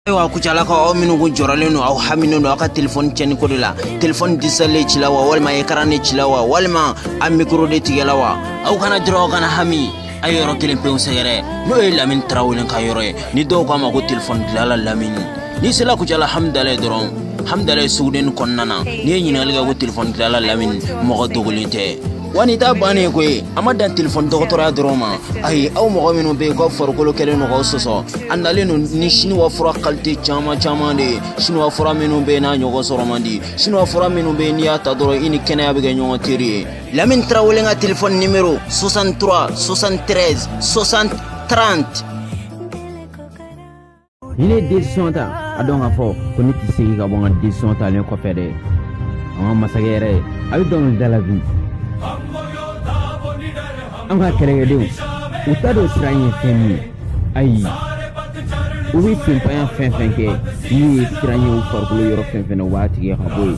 ayiwa kucalakaw aw minnu kun jɔrɔlen don aw haminen don aw ka telefɔni cɛni ko de la telefɔni disalen cila wa walima ekaran de cila wa walima a mikoro de tigɛla wa aw kana jɔrɔ aw kana hami a ye yɔrɔ kelen pewu sɛgɛrɛ n'o ye lamini tarawele ka yɔrɔ ye ni dɔw k'a ma ko telefɔni dilala lamini n'i sela kucala hamidalaye dɔrɔn hamidalaye sugudenni kɔnɔna na n'i ye ɲinali kɛ ko telefɔni dilala lamini mɔgɔ dogolen tɛ Wa nin t'a bannen ko ye a ma dan telefɔni dɔgɔtɔrɔya dɔrɔn ma ayi aw mɔgɔ minnu bɛ yen k'aw farikolo kɛlen don k'aw sɔsɔ a nalen don ni siniwafura kalite caman caman de ye siniwafura minnu bɛ n'a ɲɔgɔn sɔrɔ man di siniwafura minnu bɛ n'i y'a ta dɔrɔn i ni kɛnɛya bɛ kɛ ɲɔgɔn teri ye lamini tarawele ka telefɔni nimero sɔsantura sɔsantrez sɔsan tranti ni ne desizɔn ta a dɔn k'a fɔ ko ne tɛ segin ka bɔ n ka desizɔn talen kɔfɛ dɛ an ka masakɛ yɛrɛ ye a bɛ dɔnkilida la bi an ka kɛlɛkɛdenw u t'a dɔn siran ye fɛn min ye ayi u bɛ senpanya fɛn fɛn kɛ n'u ye siran ye u farikolo yɔrɔ fɛn fɛn na u b'a tigɛ ka bɔ yen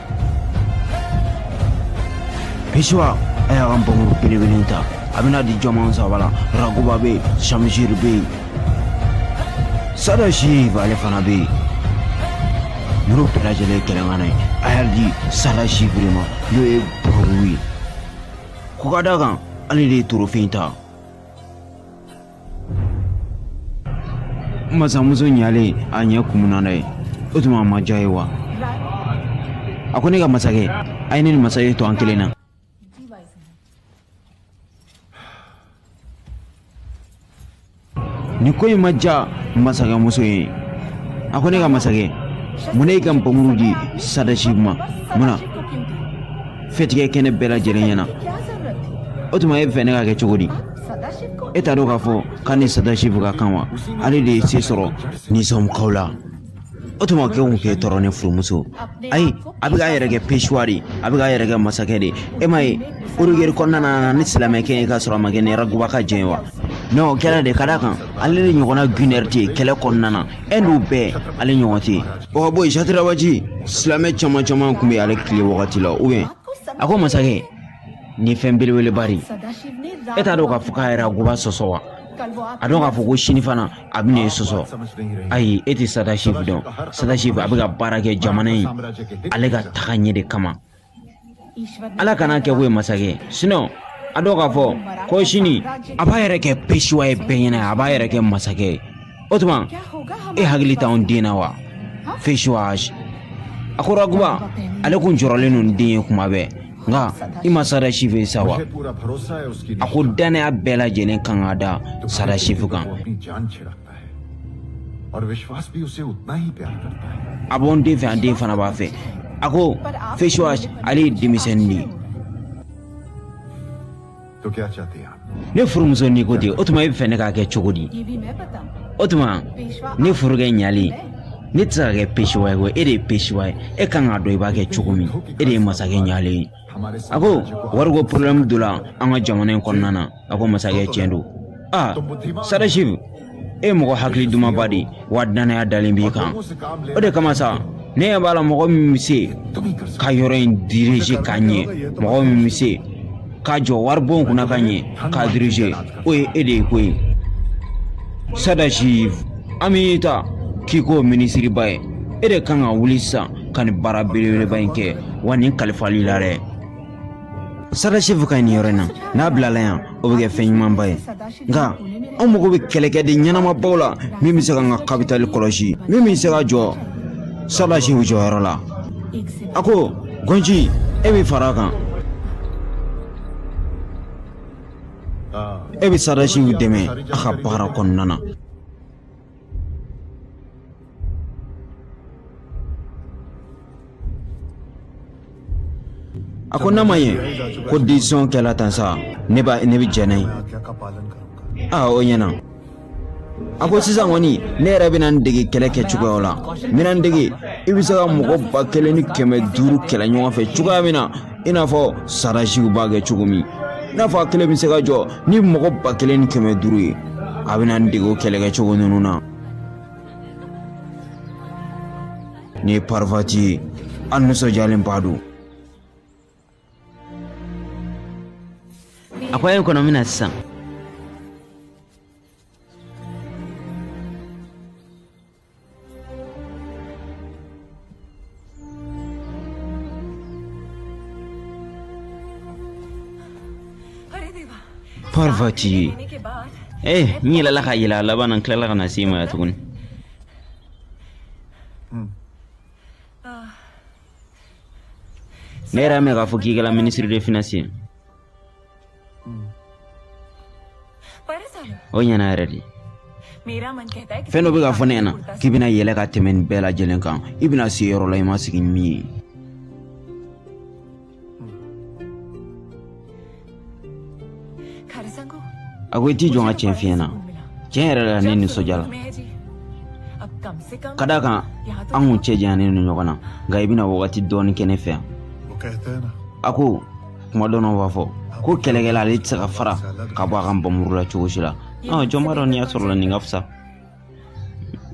Pesuwa a y'a ka npanmuru belebele in ta a bɛn'a di jɔn ma saba la raguba bɛ yen samisiri bɛ yen sadasibu ale fana bɛ yen ninnu bɛɛ lajɛlen ye kɛlɛŋana ye a y'a di sadasibu de ma n'o ye bɔrɔbu ye ko ka d'a kan ale de ye torofe in ta masamuso nalen a ɲɛ kumuna dɛ o tuma a ma diya a ye wa a ko ne ka masakɛ a ye ne ni masakɛ to an kelen na nin ko in ma diya masakɛmuso ye a ko ne ka masakɛ mun na e y'i ka npanmuru di sadasi ma mun na fɛti kɛ kɛnɛ bɛɛ lajɛlen ɲɛna o tuma e b'a fɛ ne k'a kɛ cogo di e t'a dɔn k'a fɔ k'a ni sadasibu ka kan wa ale de ye se sɔrɔ nizamukaw la o tuma kɛ kun k'e tɔɔrɔ ne furumuso ayi a bɛ k'a yɛrɛ kɛ pesuwa de a bɛ k'a yɛrɛ kɛ masakɛ de e m'a ye orugeri kɔnɔna a nana ni silamɛkɛ ye k'a sɔrɔ a ma kɛ ni raguba ka jɛn ye wa non o kɛra de ka d'a kan ale de ɲɔgɔnna gunɛri tɛ yen kɛlɛ kɔnɔna na ɛndu bɛɛ ale ɲɔgɔn tɛ yen o ka bɔ yen satirabaji silamɛ caman caman tun bɛ ale tile wagati la ubiyɛn a ko masakɛ nin fɛn belebeleba de ye e t'a dɔn k'a fɔ k'a ye raguba sɔsɔ wa a dɔn k'a fɔ ko sini fana a bɛn'e sɔsɔ ayi e tɛ sadasi dɔn sadasi a bɛ ka baara kɛ jamana ye ale ka taga ɲɛ de kama ala kan'a kɛ ko ye masakɛ sinɔn a dɔn k'a fɔ ko sini a b'a yɛrɛ kɛ pesiwa ye bɛɛ ɲɛna a b'a yɛrɛ kɛ masakɛ ye o tuma e hakili t'anw den na wa pesiwa a ko raguba ale kun jɔrɔlen don den ye kuma bɛɛ nka i ma sadasifu ye sa wa a ko dannaya bɛɛ lajɛlen kan ka da sadasifu kan a b'an den fɛ an den fana b'a fɛ a ko vishwas ale ye denmisɛnnin de ye ne furumuso n'i ko ten o tuma e b'a fɛ ne k'a kɛ cogo di o tuma ne furukɛ ɲalen ne tɛ se ka kɛ pesiwa ye e de ye pesiwa ye e kan k'a dɔn i b'a kɛ cogo min e de ye masakɛ ɲalen ye a ko wariko porobilɛmu donna an ka jamana in kɔnɔna na a ko masakɛ tiɲɛ don aa sadasifu e mɔgɔ hakili dumanba de ye wa dannaya dalen b'i kan o de kama sa ne ɲɛ b'a la mɔgɔ min bɛ se ka yɔrɔ in dirije ka ɲɛ mɔgɔ min bɛ se ka jɔ waribon kunna ka ɲɛ k'a dirije o ye e de ye koyi sadasifu an b'i ta k'i k'o minisiriba ye e de kan ka wuli sisan ka nin baara belebeleba in kɛ wa nin kalifal'i la dɛ sadasifu ka ɲi nin yɔrɔ in na n'a bilala yan o bɛ kɛ fɛn ɲumanba ye nka an mago bɛ kɛlɛkɛden ɲɛnamabaw la min bɛ se k'an ka kapitali kɔlɔsi min bɛ se ka jɔ sadasifu jɔyɔrɔ la a ko gɔnji e bɛ fara a kan e bɛ sadasifu dɛmɛ a ka baara kɔnɔna na a ko n'a ma ɲɛ ko desizɔn kɛla tan sa ne b'a ne bɛ jɛn n'a ye aa o ɲɛna a ko sisan kɔni ne yɛrɛ bɛna n dege kɛlɛ kɛ cogoyaw la n bɛna n dege i bɛ se ka mɔgɔ ba kelen ni kɛmɛ duuru kɛlɛ ɲɔgɔn fɛ cogoya min na i n'a fɔ sadasifu b'a kɛ cogo min i n'a fɔ a kelen bɛ se ka jɔ ni mɔgɔ ba kelen ni kɛmɛ duuru ye a bɛna n dege o kɛlɛkɛ cogo ninnu na ni parifati ye an nisɔndiyalenba don a ko a ye kɔnɔ min na sisan Parvati. Eh, ni la la ka yela laban an tilala ka na se ma tuguni. Ne yɛrɛ y'a mɛn k'a fɔ k'i kɛra minisiri de finansi ye o ɲɛna yɛrɛ de fɛn dɔ bɛ k'a fɔ ne ɲɛna k'i bɛna yɛlɛ ka tɛmɛ nin bɛɛ lajɛlen kan i bɛna se yɔrɔ la i ma sigi ni min ye a ko i t'i jɔ n ka tiɲɛ f'i ɲɛna tiɲɛ yɛrɛ la ne nisɔndiyala ka d'a kan an kun cɛ janyalen don ɲɔgɔn na nka i bɛna wagati dɔɔni kɛ ne fɛ yan a ko kuma dɔ b'a fɔ ko kɛlɛkɛla ale tɛ se ka fara ka bɔ a ka npanmuru la cogo si la jɔn b'a dɔn n'i y'a sɔrɔ la nin ka fisa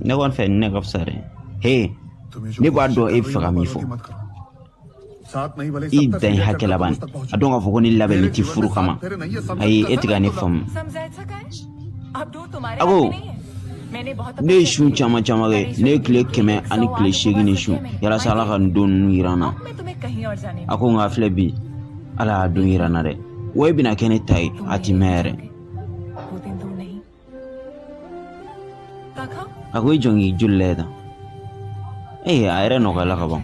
ne kɔni fɛ nin ne ka fisa dɛ he ne b'a dɔn e bɛ fɛ ka min fɔ i dan ye hakɛ laban a dɔn k'a fɔ ko ne labɛnnen tɛ furu kama ayi e tɛ ka ne faamu a ko ne ye sun caman caman kɛ ne ye tile kɛmɛ ani tile seegin ne sun yalasa ala ka nin don ninnu jira n na a ko nka filɛ bi ala y'a don jira n na dɛ wa e bɛna kɛ ne ta ye a ti mɛɛn yɛrɛ a ko i jɔ n k'i joli lajɛ tan ee a yɛrɛ nɔgɔyala ka ban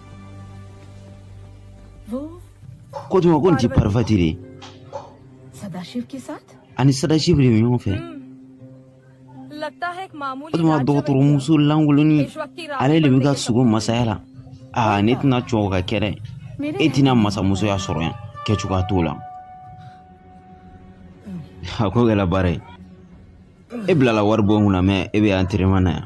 ko tuma ko nin ti parivati de ye ani sadashifu de bɛ ɲɔgɔn fɛ o tuma dɔgɔtɔrɔmuso lankoloni ale de bɛ ka sigi masaya la aa ne tɛna jɛn o ka kɛ dɛ e tɛna masamusoya sɔrɔ yan kɛ cogoya t'o la a ko kɛra baara ye e bilala wari bɔ n kunna mɛ e bɛ yan terima na yan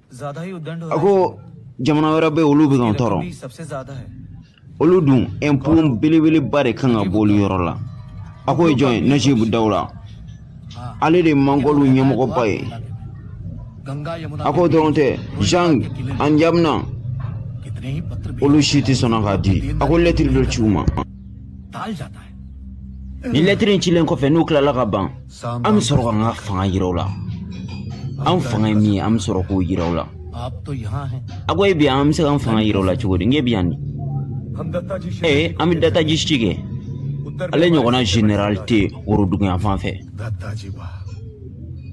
a ko jamana wɛrɛ bɛ olu bɛ k'an tɔɔrɔ olu dun ɛnpo belebeleba de kan ka bɔ olu yɔrɔ la a ko o ye jɔn ye najibu dawula ale de ye mangolu ɲɛmɔgɔba ye a ko o dɔrɔn tɛ jang an jamina olu si tɛ sɔnna k'a di a ko lɛtiri dɔ ci u ma ni lɛtiri in cilen kɔfɛ n'u tilala ka ban an bɛ sɔrɔ ka an ka fanga jira u la an fanga ye min ye an bɛ sɔrɔ k'o jira u la a ko e bi an bɛ se k'an fanga jira u la cogo di n k'e bi yan di ee an bɛ dataji ci kɛ ale ɲɔgɔnna general tɛ worodugu yan fan fɛ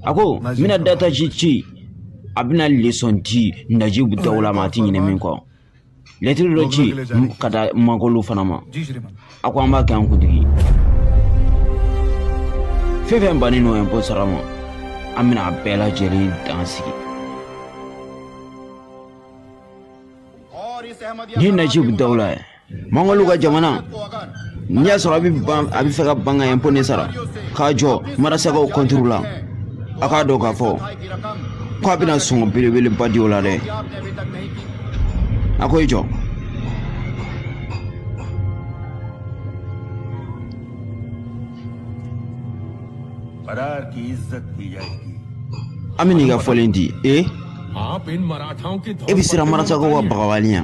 a ko n bɛna dataji ci a bɛna lesɔn di najibu dawula ma a tɛ ɲinɛ min kɔ lɛtiri dɔ ci ka taa mangolu fana ma a ko an b'a kɛ an kuntigi fɛn fɛn bannen don ɛnpo sara ma an bɛna a bɛɛ lajɛlen dan sigi ni najibu dawula ye mangolu ka jamana n'i y'a sɔrɔ a bɛ ban a bɛ fɛ ka ban ka ɛnpo nin sara ka jɔ marasakaw kɔnturu la a k'a dɔn k'a fɔ ko a bɛna sɔngɔ belebeleba di o la dɛ a ko i jɔ an bɛ n'i ka fɔlen di ee e bɛ siran marasakaw ka bagabagali ɲɛ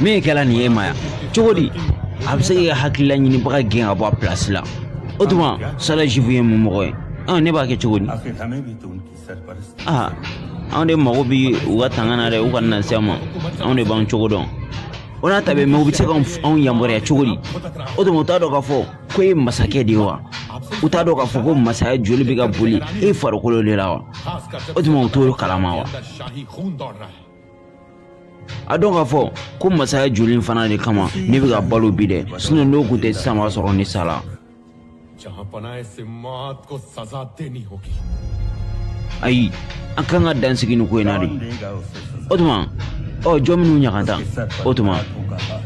mun kɛra nin ye maaya cogo di a bɛ se k'i ka hakililaɲinibaga gɛn ka bɔ a pilasi la o tuma sadashiv ye mun mɔgɔ ye ɔn ne b'a kɛ cogo di aa anw de mago bɛ u ka tanga na dɛ u kana se an ma anw de b'an cogo dɔn o n'a ta bɛɛ mɛ u bɛ se ka anw yamaruya cogo di o tuma u t'a dɔn k'a fɔ ko e ye masakɛ de ye wa u t'a dɔn k'a fɔ ko masaya joli bɛ ka boli e farikolo de la wa o tuma u t'o kalama wa a dɔn k'a fɔ ko masaya joli fana de kama ne bɛ ka balo bi dɛ sinɔn n'o tun tɛ sisan b'a sɔrɔ ne sala ayi an kan ka dan sigi nin ko in na dɛ o tuma ɔ jɔn minnu ɲaganta o tuma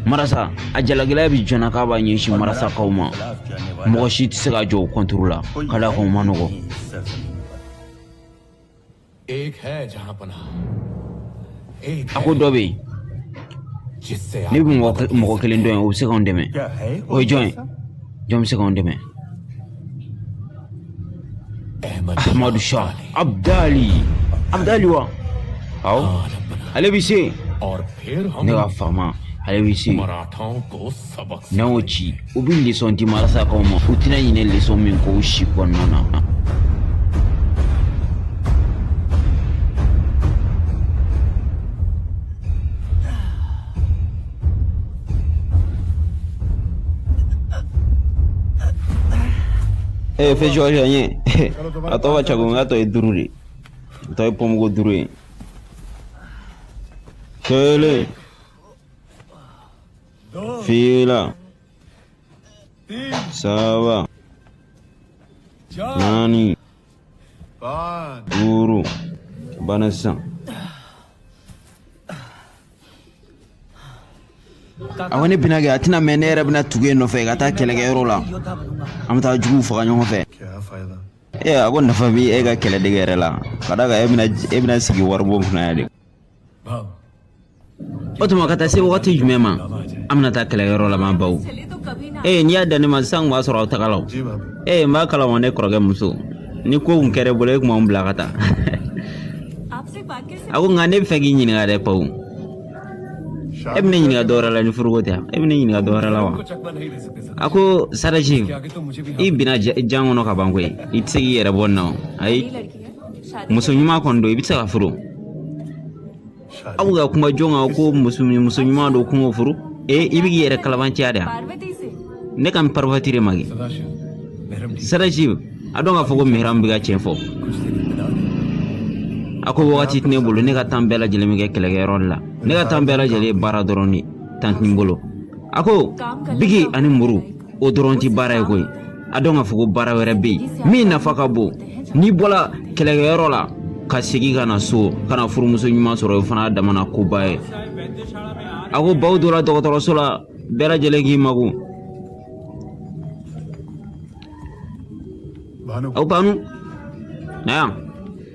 marasa a jalagɛlɛya bɛ jɔn na k'a b'a ɲɛsin marasakaw ma mɔgɔ si tɛ se ka jɔ o kɔnturu la ka d'a kan o man nɔgɔ a ko dɔ bɛ yen ne bɛ mɔgɔ kelen dɔn yen o bɛ se k'anw dɛmɛ o ye jɔn ye jɔn bɛ se k'anw dɛmɛ ahmadu shah abdali abdali wa awɔ ale bɛ se ne ka faama ale bɛ se n'an y'o ci u bɛ lesɔn di marasakaw ma u tɛna ɲinɛ lesɔn min kɔ u si kɔnɔna na ee fɛn jɔjɔ n ye a tɔgɔ ka ca ko n ka tɔ ye duuru de ye n tɔ ye pɔnpu ko duuru ye kelen fila saba naani duuru bana sisan a ko ne bɛna kɛ a tɛna mɛn ne yɛrɛ bɛna tugu e nɔfɛ ka taa kɛlɛkɛyɔrɔ la an bɛ taa juguw faga ɲɔgɔn fɛ ee a ko nafa bɛ e ka kɛlɛdege yɛrɛ la ka d'a kan e bɛna e bɛna sigi waribon kunna yan de o tuma ka taa se wagati jumɛn ma an bɛna taa kɛlɛkɛyɔrɔ laban baw ee n'i y'a dan ne ma sisan b'a sɔrɔ aw tagala ee n b'a kalama ne kɔrɔkɛ muso ni ko kun kɛra i bolo e tun b'anw bila ka taa a ko nka ne b'a fɛ k'i ɲininka dɛ pawu e bɛ ne ɲininka dɔwɛrɛ la ni furuko tɛ e bɛ ne ɲininka dɔwɛrɛ la wa a ko sadashiv i binna jan kɔnɔ ka ban koyi i tɛ se k'i yɛrɛ bɔ nin na o ayi muso ɲuman kɔni don i bɛ se k'a furu aw bɛ ka kuma jɔn kan ko muso muso ɲuman don ko n k'o furu ee i bɛ k'i yɛrɛ kalabanciya de yan ne kan parifati de ma kɛ sadashiv a dɔn k'a fɔ ko mihram bɛ ka tiɲɛ fɔ a ko wagati tɛ ne bolo ne ka tan bɛɛ lajɛlen bɛ kɛ kɛlɛkɛyɔrɔ de la ne ka tan bɛɛ lajɛlen ye baara dɔrɔn de ye tan tɛ n bolo a ko biki ani muru o dɔrɔn tɛ baara ye koyi a dɔn k'a fɔ ko baara wɛrɛ bɛ yen min nafa ka bon n'i bɔra kɛlɛkɛyɔrɔ la ka segin ka na so ka na furumuso ɲuman sɔrɔ o fana damana koba ye a ko baw donna dɔgɔtɔrɔso la bɛɛ lajɛlen k'i makun a ko banu na yan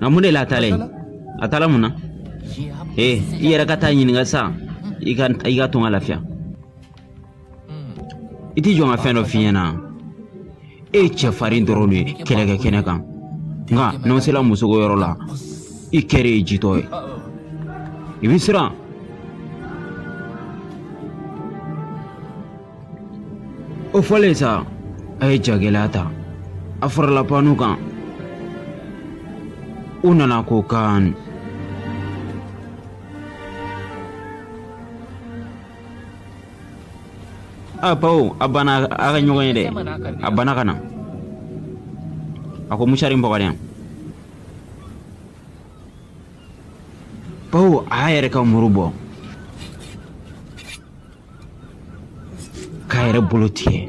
nka mun de la a taala yen a taala mun na ee i yɛrɛ ka taa ɲininka sa i ka i k'a to n ka lafiya i ti jɔ n ka fɛn dɔ f'i ɲɛna e ye cɛfarin dɔrɔn de ye kɛlɛkɛ kɛnɛ kan nka n'a sera musoko yɔrɔ la i kɛlen ye jitɔ ye i bɛ siran o fɔlen sa a ye jagɛlɛya ta a farala panu kan u nana ko kan a pawu a banna a ka ɲɔgɔn ye dɛ a banna ka na a ko musari n bɔgɔdɛn pawu a y'a yɛrɛ ka muru bɔ k'a yɛrɛ bolo tigɛ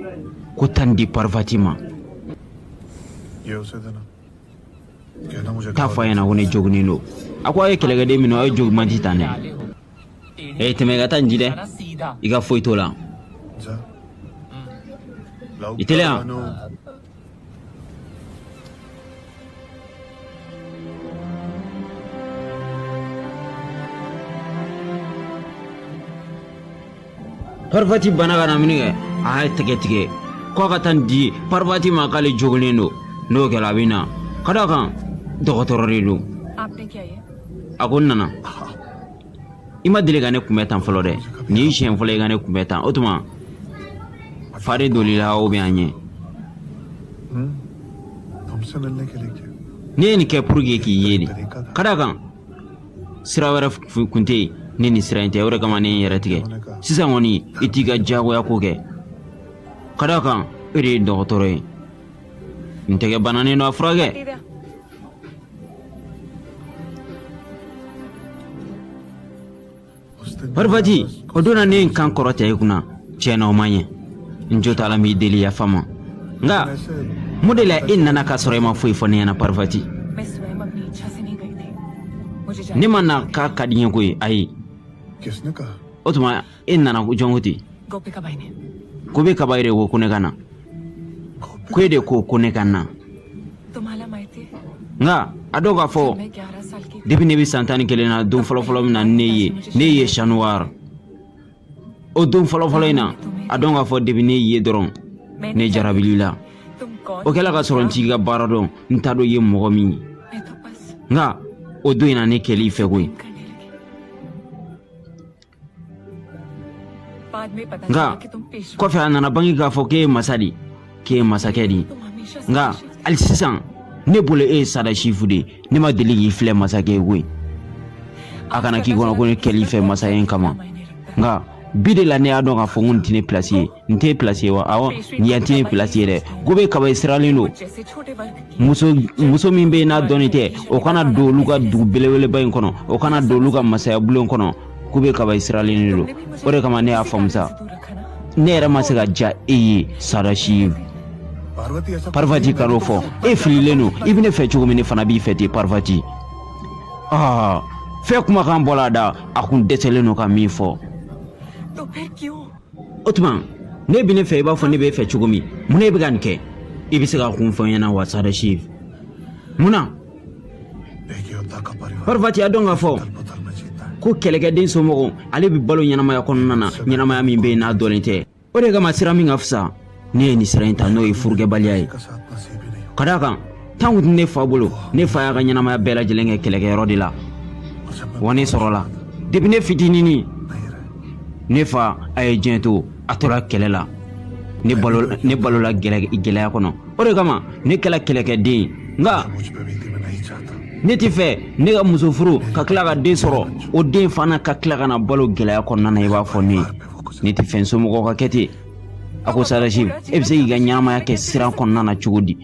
ko taa nin di parvati ma taa a fɔ a ɲɛna ko ne joginnen don a ko a ye kɛlɛkɛden minnu aw ye jogiman ti tan dɛ ee tɛmɛ i ka taa nin di dɛ i ka foyi t'o la i teliya paripati bana ka na min kɛ a y'a tɛgɛ tigɛ k'a ka taa nin di paripati ma k'ale joginnen don n'o kɛra a bɛ na ka d'a kan dɔgɔtɔrɔ de don a ko n nana i ma deli ka ne kunbɛ tan fɔlɔ dɛ nin y'i siɲɛ fɔlɔ i ka ne kunbɛ tan o tuma fari doli la o bɛ an ɲɛ ne ye nin kɛ pour que k'i ye de ka d'a kan sira wɛrɛ kun tɛ yen ni nin sira in tɛ o de kama ne ye n yɛrɛ tigɛ sisan kɔni i t'i ka diyagoya ko kɛ ka d'a kan e de ye dɔgɔtɔrɔ ye n tɛgɛ bananen don a furakɛ Parifati o don na ne ye n kan kɔrɔta i kunna tiɲɛ na o ma ɲɛ n jo t'a la n b'i deli yafa ma nka mun de la e nana k'a sɔrɔ e ma foyi fɔ ne ɲɛna parifati ne ma na k'a ka di n ye koyi ayi o tuma e nana jɔn kɔ ten gopikabayi yɛrɛ ko ko ne ka na ko e de ko ko ne ka na nka a dɔn k'a fɔ depi ne bɛ san tan ni kelen na don fɔlɔfɔlɔ min na ne y'i ye ne y'i ye sanuwari o don fɔlɔfɔlɔ in na a dɔn k'a fɔ depi ne y'i ye dɔrɔn ne jarabili la o kɛla ka sɔrɔ n t'i ka baara dɔn n t'a dɔn i ye mɔgɔ min ye nka o don in na ne kɛl'i fɛ koyi nka kɔfɛ a nana bange k'a fɔ k'e ye masa de k'e ye masakɛ de ye nka hali sisan ne bolo e ye sadasifu de ye ne ma deli k'i filɛ masakɛ ye koyi a kana k'i kɔnɔ ko ne kɛl'i fɛ masaya kama nka bi de la ne y'a dɔn k'a fɔ ko nin tɛ ne pilasi ye nin t'i pilasi ye wa awɔ yan tɛ pilasi ye dɛ gopikabayi siralen don muso muso min bɛ yen n'a dɔnnen tɛ o kana don olu ka dugu belebeleba in kɔnɔ o kana don olu ka masaya bulon kɔnɔ gopikabayi siralen don o de kama ne y'a faamu sa ne yɛrɛ ma se ka diya e ye sadasifu parvati kan'o fɔ e fililen don i bɛ ne fɛ cogo min ne fana b'i fɛ ten parvati enfin kumakan bɔra a da a kun dɛsɛlen don ka min fɔ o tuma n'e bɛ ne fɛ i b'a fɔ ne b'i fɛ cogo min mun na i bɛ ka nin kɛ i bɛ se k'a kun fɔ n ɲɛna wa sadasifu munna parifati a dɔn k'a fɔ ko kɛlɛkɛden somɔgɔ ale bɛ balo ɲɛnamaya kɔnɔna na ɲɛnamaya min bɛ yen n'a dɔnnen tɛ o de kama sira min ka fisa ne ye nin sira in ta n'o ye furukɛbaliya ye ka d'a kan temps kun tɛ ne fa bolo ne fa y'a ka ɲɛnamaya bɛɛ lajɛlen kɛ kɛlɛkɛyɔrɔ de la wa ne sɔrɔla depi ne fitininin ne fa a ye diɲɛ to a tora kɛlɛ la ne balo ne balola gɛlɛya kɔnɔ o de kama ne kɛla kɛlɛkɛden ye nka ne t'a fɛ ne ka muso furu ka tila ka den sɔrɔ o den fana ka tila ka na balo gɛlɛya kɔnɔna na i b'a fɔ ne ne t'a fɛ n somɔgɔw ka kɛ ten a ko sadasiv e bɛ se k'i ka ɲɛnamaya kɛ siran kɔnɔna na cogo di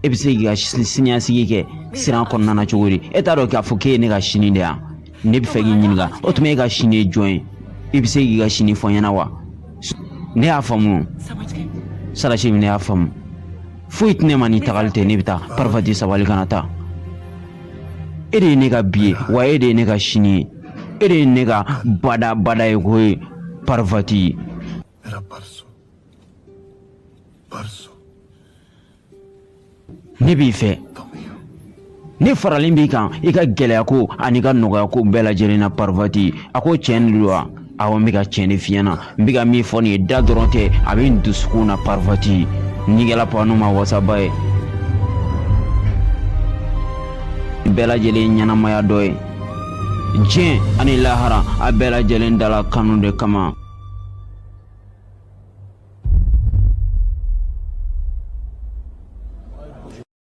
e bɛ se k'i ka siniɲɛsigi kɛ siran kɔnɔna na cogo di e t'a dɔn k'a fɔ k'e ye ne ka sini de ye ne bɛ fɛ k'i ɲininka o tuma e ka sini ye jɔn ye i bɛ se k'i ka sini fɔ n ɲɛna wa ne y'a faamu sadasiv ne y'a faamu foyi tɛ ne ma ni tagali tɛ ne bɛ taa parvati sabali kana taa e de ye ne ka bi ye wa e de ye ne ka sini ye e de ye ne ka bada bada ye ko ye parvati ne b'i fɛ ne faralen b'i kan i ka gɛlɛya ko ani i ka nɔgɔya ko bɛɛ lajɛlen na parvati a ko tiɲɛ de don wa awɔ n bɛ ka tiɲɛ de f'i ɲɛ na n bɛ ka min fɔ nin ye da dɔrɔn tɛ a bɛ n dusukun na parvati nin kɛla panu ma wasaba ye bɛɛ lajɛlen ɲɛnamaya dɔ ye diɲɛ ani lahara a bɛɛ lajɛlen dala kanu de kama